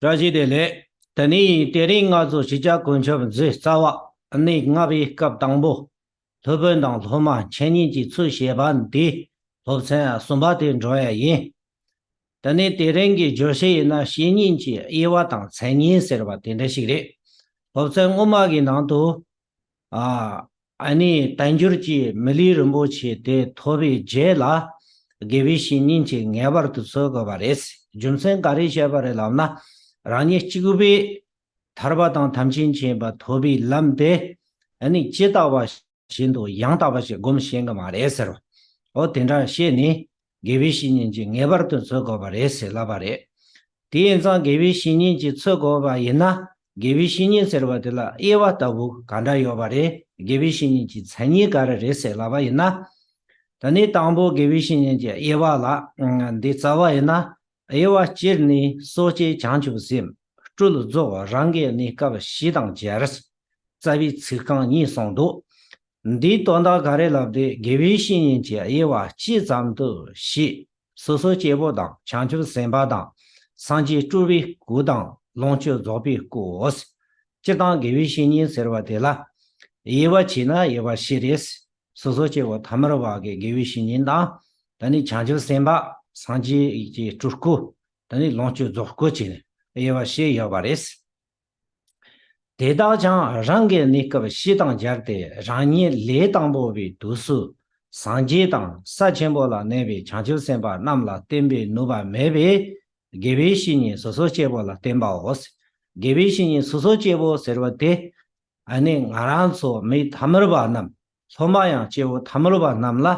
བཀྲ་ཤིས་བདེ་ལེགས། དེ་ནས་དེ་རིང་ང་ཚོ་ཕྱི་རྒྱལ་དཀོན་མཆོག་མཛད་རྩ་བ་གནས་ལྔ་པའི་སྐབས་དང་པོ་སློབ་དཔོན་དང་སློབ་མ་འཆད་ཉན་གྱི་ཚུལ་བཤད་པ་འདི་སློབ་ཚན་གསུམ་པ་དེ་འགྲོ་ཡས་ཡིན། དེ་ནས་དེ་རིང་གི་བརྗོད་བྱ་ཡིན་ན་བཤེས་གཉེན་གྱི་དབྱེ་བ་དང་མཚན་ཉིད་ཟེར་བ་དེ་འདྲ་ཞིག་རེད། སློབ་ཚན་སྔོན་མ་གི་ནང་དུ་ཨཱ་ནི་བསྟན་འགྱུར་གྱི་མི་ལུས་རིན་པོ་ཆེ་དེ་ཐོབ་པའི་རྗེས་ལ། དགེ་བའི་བཤེས་གཉེན་གྱིས་ངེས་པར་དུ་གསོད་དགོས་པ་རེད། རྒྱུ་མཚན་ག་རེ་བཤད་པ་རེད་ལབ་ན། རང་ཉིད་གཅིག་པུས་ཐར་པ་དང་དམ་ཅན་བྱེད་པ་ཐོབ་པའི་ལམ་དེ་ནི་ཇི་ལྟ་བ་བཞིན་དུ་ཡང་དག་པ་ཞིག་སྒོམ་ཤེས་གི་མ་རེད་ཟེར་བ། འོ་དེ་འདྲ་བཤད་ནས་དགེ་བའི་བཤེས་གཉེན་གྱིས་ངེས་པར་དུ་འཚོལ་དགོས་པ་རེད་ཟེར་ལབ་པ་རེད། དེ་ཡིན་ཙང་དགེ་བའི་བཤེས་གཉེན་གྱིས་འཚོལ་དགོས་པ་ཡིན་ན་དགེ་བའི་བཤེས་གཉེན་ཟེར་བ་དེ་ལ་དབྱེ་བ་ལྟ་བུ་ག་འདྲ་ཡོད་པ་རེད་དགེ་བའི་བཤེས་གཉེན་གྱི་མཚན་ཉིད་ག་རེ་རེད་ཟེར་ལབ་པ་ཡིན་ན། ད་ནི་དང་པོ་དགེ་བའི་བཤེས་གཉེན་གྱི་དབྱེ་བ་ལ་འདི་རྩ་བ་ཡིན་ན་དབྱེ་བ་སྤྱིར་ནི་གསོ་དཔྱད་བྱང་ཆུབ་སེམས་སྤྲུལ་རྫོགས་བ་རང་གི་གནས་སྐབས་བཞི་དང་སྦྱར། རྩ་བའི་ཚིག་རྐང་གཉིས་གསུངས་འདུག། འདིའི་དོན་དག་ག་རེ་ལབ་དེ་དགེ་བའི་བཤེས་གཉེན་གྱི་དབྱེ་བ་སྤྱི་ཙམ་དུ་བྱས། སོ་སོ་སྐྱེ་བོ་དང་བྱང་ཆུབ་སེམས་དཔའ་དང། སངས་རྒྱས་སྤྲུལ་པའི་སྐུ་དང་ལོངས་སྤྱོད་རྫོགས་པའི་སྐུ། སྤྱིར་བཏང་དགེ་བའི་བཤེས་གཉེན་ཟེར་བ་དེ་ལ་དབྱེ་བ་བྱས་ན་དབྱེ་བ་བཞི་རེད། སོ་སོ་སྐྱེ་བོ་ཐ་མལ་བ་གའི་དགེ་བའི་བཤེས་གཉེན་དང། ད་ནི་བྱང་ཆུབ་སེམས་དཔའ་སངས་རྒྱས་ཀྱི་སྤྲུལ་སྐུ། ད་ནི་ལོངས་སྤྱོད་རྫོགས་སྐུ་བྱིན་ནས་དབྱེ་བ་ཞེས་ཡོད་པ་རེད། དེ་དག་ཀྱང་རང་གི་གནས་སྐབས་བཞི་དང་སྦྱར་ཏེ་རང་ཉིད་ལས་དང་པོ་པའི་དུས་སུ་སངས་རྒྱས་དང་ས་ཆེན་པོ་ལ་གནས་པའི་བྱང་ཆུབ་སེམས་དཔའ་རྣམས་ལ་བསྟེན་པའི་ནུབ་པ་མེད་པའི་དགེ་བའི་བཤེས་གཉེན་སོ་སོ་སྐྱེ་བོ་ལ་བསྟེན་པའོ། དགེ་བའི་བཤེས་གཉེན་སོ་སོ་སྐྱེ་བོ་ཟེར་བ་དེ་ཨ་ནི་ང་རང་ཚོ་མི་དར་མོར་བ་རྣམས་སློབ་མ་ཡང་སྐྱེ་བོ་དར་མོར་བ་རྣམས་ལ་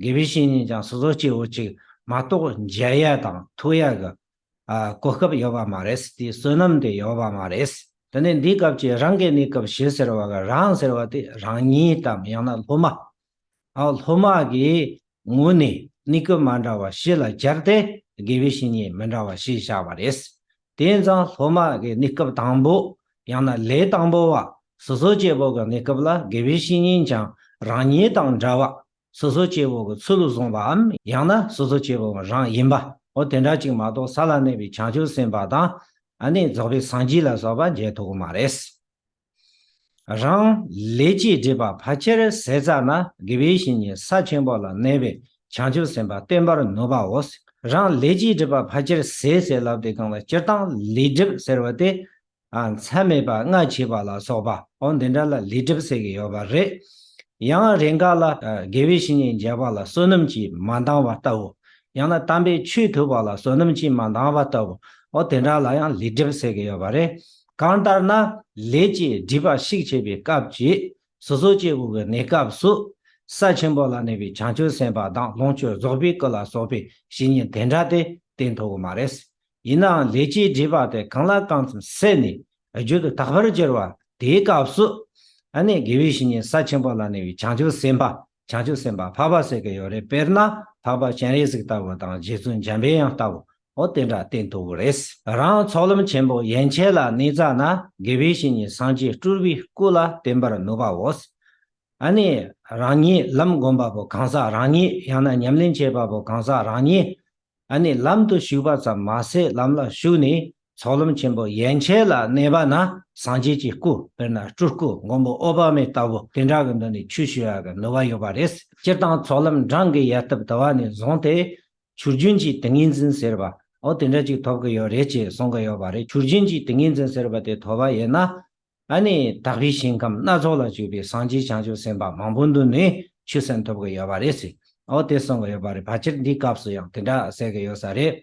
དགེ་བའི་བཤེས་གཉེན་ཀྱང་སོ་སོ་སྐྱེ་བོ་གཅིག་མ་གཏོགས་མཇལ་ཡས་དང་ཐུག་ཡས་ཀྱི་གོ་སྐབས་ཡོད་པ་མ་རེད་དེའི་བསོད་ནམས་དེ་ཡོད་པ་མ་རེད། དེ་ནས་འདིའི་སྐབས་ཀྱི་རང་གི་གནས་སྐབས་ཞེས་ཟེར་བ་ག་རང་ཟེར་བ་དེ་རང་ཉིད་དམ་ཡང་ན་སློབ་མ་སློབ་མ་གྱི་ངོས་ནས་ནི་སྐབས་མ་འདྲ་བ་བཞི་ལ་སྦྱར་ཏེ་དགེ་བའི་བཤེས་གཉེན་མི་འདྲ་བ་བཞི་བཞག་པ་རེད། དེས་ན་སློབ་མ་གི་ནི་སྐབས་དང་པོ་ཡང་ན་ལས་དང་པོ་བ། སོ་སོ་སྐྱེ་བོ་གི་ནི་སྐབས་ལ་དགེ་བའི་བཤེས་གཉེན་ཀྱང་རང་ཉིད་དང་འདྲ་བ། སོ་སོ་སྐྱེ་བོ་གི་ཚུལ་བཟུང་བའམ་ཡང་ན་སོ་སོ་སྐྱེ་བོ་མོ་རང་ཡིན་པའོ་དེ་འདྲ་ཅིག་མ་གཏོགས་ས་ལ་གནས་པའི་བྱང་ཆུབ་སེམས་དཔའ་དང། ནི་རྫོགས་པའི་སངས་རྒྱས་ལ་སོགས་པ་མཇལ་ཐུག་གི་མ་རེད། རང། ལས་ཀྱིས་སྒྲིབ་པ་བར་ཆད་ཟས་ཟ་ན་དགེ་བའི་བཤེས་གཉེན་ས་ཆེན་པོ་ལ་གནས་པའི་བྱང་ཆུབ་སེམས་དཔའ་བརྟན་པར་ནུབ་པའོ། རང། ལས་ཀྱིས་སྒྲིབ་པ་བར་ཆད་ཟས་ཟས་ལབ་སྟེ་བཀང་བ་སྤྱིར་བཏང་ལས་སྒྲིབ་ཟེར་བ་དེ། མཚན་མེད་པ་ལྔ་བྱེད་པ་ལ་སོགས་པའོ་འདི་འདྲ་ལ་ལས་སྒྲིབ་ཟེར་གྱི་ཡོད་པ་རེད། ཡང་རེས་འགའ་ལ། དགེ་བའི་བཤེས་གཉེན་མཇལ་བ་ལ་བསོད་ནམས་ཀྱིས་མ་འདང་བ་ལྟ་བུ། ཡང་ན་དམ་པའི་ཆོས་ཐོས་པ་ལ་བསོད་ནམས་ཀྱིས་མ་འདང་བ་ལྟ་བུའོ་དེ་འདྲ་ལ་ཡང་ལས་སྒྲིབ་ཟེར་གྱི་ཡོད་པ་རེད། གང་ལྟར་ན་ལས་བཅས་སྒྲིབ་པ་ཞིག་བྱེད་པའི་སྐབས་ཀྱི་སོ་སོ་སྐྱེ་བོ་གི་གནས་སྐབས་སུ། ས་ཆེན་པོ་ལ་གནས་པའི་བྱང་ཆུབ་སེམས་དཔའ་དང་ལོངས་སྤྱོད་རྫོགས་པའི་སྐུ་ལ་སོགས་པའི་བཤེས་གཉེན་དེ་འདྲ་སྟེ་དེ་མཐོ་བོ་མ་རེད། ཡིན་ནའང་ལས་བཅས་སྒྲིབ་པ་དེ་གང་ལ་གང་ཙམ་བསལ་ནས་རྒྱུད་དུ་དག་པར་གྱུར་པ་དེའི་སྐབས་སུ། ཨ་ནི་དགེ་བའི་བཤེས་གཉེན་ས་ཆེན་པོ་ལ་གནས་པའི་བྱང་ཆུབ་སེམས་དཔའ་བྱང་ཆུབ་སེམས་དཔའ་འཕགས་པ་ཟེར་གྱི་ཡོད་རེད་དཔེར་ན་འཕགས་པ་སྤྱན་རས་གཟིགས་ལྟ་བུ་དང་རྗེ་བཙུན་འཇམ་པའི་དབྱངས་ལྟ་བུ་ཨོ་དེ་འདྲ་བསྟན་འདུག་གི་རེད། རང་ཚོགས་ལམ་ཆེན་པོ་ཡན་ཆད་ལ་གནས་ཙྪ་ན་དགེ་བའི་བཤེས་གཉེན་སངས་རྒྱས་སྤྲུལ་པའི་སྐུ་ལ་བསྟེན་པར་ནུས་པའོ། ཨ་ནི་རང་ཉིད་ལམ་བསྒོམ་པ་པོ་གང་ཟག་རང་ཉིད་ཡང་ན་ཉམས་ལེན་བྱེད་པ་པོ་གང་ཟག་རང་ཉིད་ཨ་ནི་ལམ་དུ་ཞུགས་པ་ཙམ་མ་ཟད་ལམ་ལ་ཞུགས་ནས་ཚོགས་ལམ་ཆེན་པོ་ཡན་ཆད་ལ་གནས་པ་ན་སངས་རྒྱས་ཀྱི་སྐུ་དཔེར་ན་སྤྲུལ་སྐུ་མགོན་པོ་ཨོ་བ་མའི་ལྟ་བུ་དེ་འདྲ་གི་མདུན་ནས་ཆོས་ཞུ་བར་ནུས་པ་ཡོད་པ་རེད། སྤྱིར་བཏང་ཚོགས་ལམ་འབྲང་གི་ཡལ་སྟབས་དུ་བ་ནས་བཟུང་སྟེ་ཆུ་རྒྱུན་གྱི་ཏིང་ངེ་འཛིན་ཟེར་བ་འོ་དེ་འདྲ་ཅིག་ཐོབ་གི་ཡོད་རེད་ཅེས་གསུང་གི་ཡོད་པ་རེད་ཆུ་རྒྱུན་གྱི་ཏིང་ངེ་འཛིན་ཟེར་བ་དེ་ཐོབ་པ་ཡིན་ན་ཨ་ནི་དག་པའི་ཞིང་ཁམས་སྣ་ཚོགས་ལ་སྤྱོད་པའི་སངས་རྒྱས་བྱང་ཆུབ་སེམས་དཔའ་མང་པོ་འདུ་ནས་ཆུ་སེམས་ཐོབ་གི་ཡོད་པ་རེད་ཟེར་འོ་དེ་གསུང་གི་ཡོད་པ་རེད་ཕལ་ཆེར་འདིའི་སྐབས་སུ་ཡང་དེ་འདྲ་ཟེར་གི་ཡོད་ས་རེད་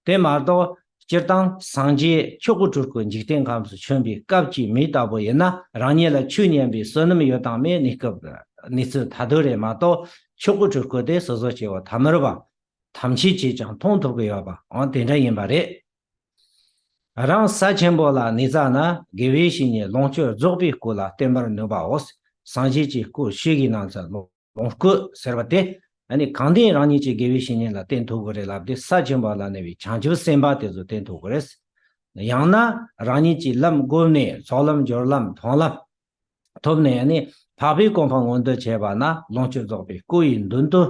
དེ་མ་གཏོགས་སྤྱིར་བཏང་སངས་རྒྱས་ཆོས་སྐུ་དྲུག་གི་འཇིག་རྟེན་ཁམས་སུ་བྱོན་པའི་སྐབས་ཀྱི་མི་ལྟ་བུ་ཡིན་ན་རང་ཉིད་ལ་ཆོས་ཉན་པའི་བསོད་ནམས་ཡོད་དང་མེད་གནས་སྐབས་གནས་ཚུལ་ཐ་དོད་རེད་མ་གཏོགས་ཆོས་སྐུ་དྲུག་སྐུ་དེ་སོ་སོ་སྐྱེ་བོ་ཐ་མར་བ་ཐམས་ཅད་ཀྱིས་ཀྱང་མཐོང་ཐུབ་ཀྱི་ཡོད་པའང་དེ་འདྲ་ཡིན་པ་རེད། རང་ས་ཆེན་པོ་ལ་ནི་རྩ་ན་དགེ་བའི་བཤེས་གཉེན་ལོངས་སྤྱོད་རྫོགས་པའི་སྐུ་ལ་བསྟེན་པར་ནུས་པའོ། སངས་རྒྱས་ཀྱི་སྐུ་ཤེས་ཀྱི་སྣང་ཚད་ལོ། ལོངས་སྐུ་ཟེར་བ་དེ་ནི་གང་དེས་རང་ཉིད་ཀྱི་དགེ་བའི་བཤེས་གཉེན་ལ་བསྟེན་ཐུབ་དགོས་རེད་ལབ་སྟེ་ས་བཅུ་པ་ལ་གནས་པའི་བྱང་ཆུབ་སེམས་དཔའ་དེ་ཚོ་བསྟེན་ཐུབ་དགོས་རེད། ཡང་ན་རང་ཉིད་ཀྱིས་ལམ་བསྒོམས་ནས་ཚོགས་ལམ་སྦྱོར་ལམ་མཐོང་ལམ་ཐོབ་ནས་ནི་འཕགས་པའི་གོ་འཕང་མངོན་དུ་བྱས་པ་ན་ལོངས་སྤྱོད་རྫོགས་པའི་སྐུ་ཡི་མདུན་དུ་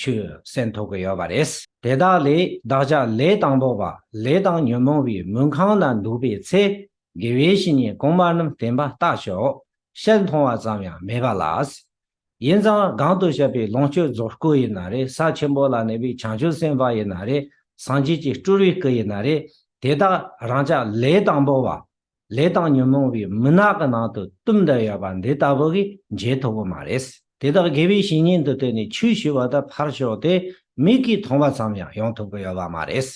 ཆུད་གསན་ཐུབ་ཀྱི་ཡོད་པ་རེད། དེ་དག་ལས་བདག་ཅག་ལས་དང་པོ་བ་ལས་དང་ཉོན་མོངས་པའི་མུན་ཁང་ན་འདུག་པའི་ཚེ་དགེ་བའི་བཤེས་གཉེན་གོང་མ་རྣམས་བསྟན་པ་བརྟག་ཞོག། ཤེལ་མཐོང་བ་ཙམ་ཡང་མེད་པ་ལ། ཡིན་ཙང་གང་དུ་བཤད་པའི་ལོངས་སྤྱོད་རྫོགས་སྐུ་ཡིན་ན་རེ་ས་ཆེན་པོ་ལ་གནས་པའི་བྱང་ཆུབ་སེམས་དཔའ་ཡིན་ན་རེ་སངས་རྒྱས་ཀྱི་སྤྲུལ་བའི་སྐུ་ཡིན་ན་རེ་དེ་དག་རང་ཅག་ལས་དང་པོ་བ། ལས་དང་ཉོན་མོངས་པའི་མུན་ནག་གི་ནང་དུ་གཏུམ་འདྲེ་ཡོད་པ་འདི་ལྟ་བུ་གིས་འཇལ་ཐུབ་པོ་མ་རེད། དེ་དག་དགེ་བའི་བཤེས་གཉེན་དུ་བསྟེན་ནས་ཆོས་ཞུ་བ་དང་ཕར་ཞོག་དེ་མིག་གིས་མཐོང་བ་ཙམ་ཡང་ཡོང་ཐུབ་ཀྱི་ཡོད་པ་མ་རེད།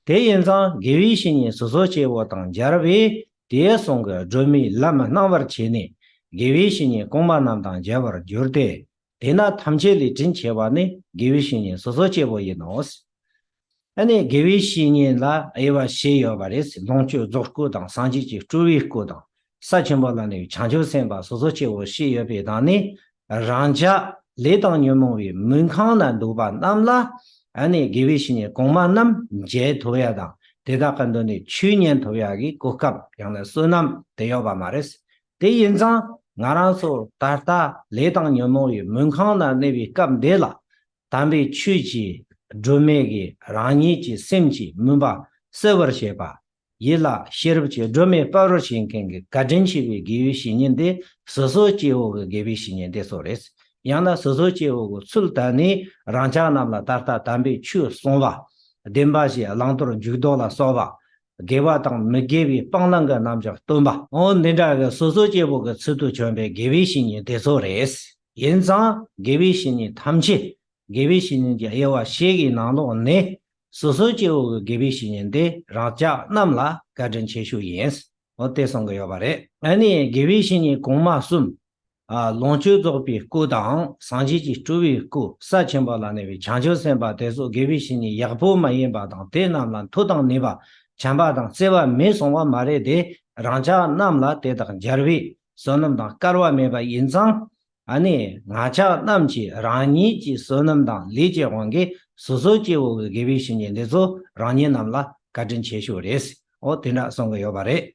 དེ་ཡིན་ཙང་དགེ་བའི་བཤེས་གཉེན་སོ་སོ་སྐྱེ་བོ་དང་སྦྱར་བས་དེའི་གསུང་གི་སྒྲོན་མེ་ལམ་སྣང་བར་བྱས་ནས་དགེ་བའི་བཤེས་གཉེན་གོང་མ་རྣམས་དང་མཇལ་བར་འགྱུར་ཏེ། དེས་ན་ཐམས་ཅད་ལས་དྲིན་ཆེ་བ་ནི་དགེ་བའི་བཤེས་གཉེན་སོ་སོ་སྐྱེ་བོ་ཡིན་ནོ། ཨ་ནི་དགེ་བའི་བཤེས་གཉེན་ལ་དབྱེ་བ་བཞི་ཡོད་པ་རེད། ལོངས་སྤྱོད་རྫོགས་སྐུ་དང་སངས་རྒྱས་ཀྱི་སྤྲུལ་བའི་སྐུ་དང། ས་ཆེན་པོ་ལ་ནི་བྱང་ཆུབ་སེམས་དཔའ་སོ་སོ་སྐྱེ་བོ་བཞི་ཡོད་པའི་དང་ནི་རང་ཅག་ལས་དང་ཉོན་མོངས་པའི་མུན་ཁང་ན་འདུག་པ་རྣམས་ལ་ནི་དགེ་བའི་བཤེས་གཉེན་གོང་མ་རྣམས་མཇལ་ཐུབ་ཡ་དང་དེ་དག་གི་མདུན་ནས་ཆོས་ཉན་ཐུབ་ཡ་གི་གོ་སྐབས་ཡང་ན་བསོད་ནམས་དེ་ཡོད་པ་མ་རེད། དེ་ཡིན་ཙང་ང་རང་ཚོ་ད་ལྟ་ལས་དང་ཉོན་མོངས་པའི་མུན་ཁང་ན་གནས་པའི་སྐབས་འདི་ལ་དམ་པའི་ཆོས་ཀྱིས་སྒྲོལ་མེད་ཀྱི་རང་ཉིད་ཀྱི་སེམས་ཀྱི་མུན་པ་སེལ་བར་བྱེད་པ་ཡིད་ལ་ཤེས་རབ་ཀྱི་སྒྲོན་མེ་དཔའ་རུ་བྱེད་མཁན་གྱི་བཀའ་དྲིན་ཆེ་བའི་དགེ་བའི་བཤེས་གཉེན་དེ་སོ་སོའི་སྐྱེ་བོ་གི་དགེ་བའི་བཤེས་གཉེན་དེ་ཚོ་རེད། ཡང་ན་སོ་སོའི་སྐྱེ་བོ་གི་ཚུལ་དད་ནི་རང་ཅག་རྣམས་ལ་ད་ལྟ་དམ་པའི་ཆོས་གསུང་བ། བདེན་པ་བཞི་བླང་དོར་འཇུག་ལྡོག་ལ་སོགས་པ། དགེ་བ་དང་མི་དགེ་བའི་སྤང་བླང་གི་རྣམ་གཞག་སྟོན་པ། འོ་འདི་འདྲ་གི་སོ་སོའི་སྐྱེ་བོ་གི་ཚུལ་དུ་བྱོན་པའི་དགེ་བའི་བཤེས་གཉེན་དེ་ཚོ་རེད། ཡིན་ཙང་དགེ་བའི་བཤེས་གཉེན་ཐམས་ཅད་དགེ་བའི་བཤེས་གཉེན་གྱི་དབྱེ་བ་ཞིག་གི་ནང་ལོགས་ནས་སོ་སོའི་སྐྱེ་བོ་གི་དགེ་བའི་བཤེས་གཉེན་དེ་རང་ཅག་རྣམས་ལ་བཀའ་དྲིན་ཆེ་ཞུ་ཡིན། འོ་དེ་གསུང་གི་ཡོད་པ་རེད། ཨ་ནི་དགེ་བའི་བཤེས་གཉེན་གོང་མ་གསུམ། ལོངས་སྤྱོད་རྫོགས་པའི་སྐུ་དང་སངས་རྒྱས་ཀྱི་སྤྲུལ་བའི་སྐུ་ས་ཆེན་པོ་ལ་གནས་པའི་བྱང་ཆུབ་སེམས་དཔའ་དེ་སོགས་དགེ་བའི་བཤེས་གཉེན་ཡག་པོ་མ་ཡིན་པ་དང་དེ་རྣམས་ལ་མཐུ་དང་ནུས་པ་བྱམས་པ་དང་བརྩེ་བ་མེད་སོང་བ་མ་རེད་དེ་རང་ཅག་རྣམས་ལ་དེ་དག་འཇར་བའི་བསོད་ནམས་དང་སྐལ་བ་མེད་པ་ཡིན་ཙང་ཨ་ནི་ང་ཅག་རྣམས་ཀྱིས་རང་ཉིད་ཀྱི་བསོད་ནམས་དང་ལས་ཀྱི་དབང་གིས་སོ་སོའི་སྐྱེ་བོ་དགེ་བའི་བཤེས་གཉེན་འདི་ཚོ་རང་ཉིད་རྣམས་ལ་བཀའ་དྲིན་ཆེ་ཤོས་རེད། འོ་དེ་འདྲ་གསུང་གི་ཡོད་པ་རེད།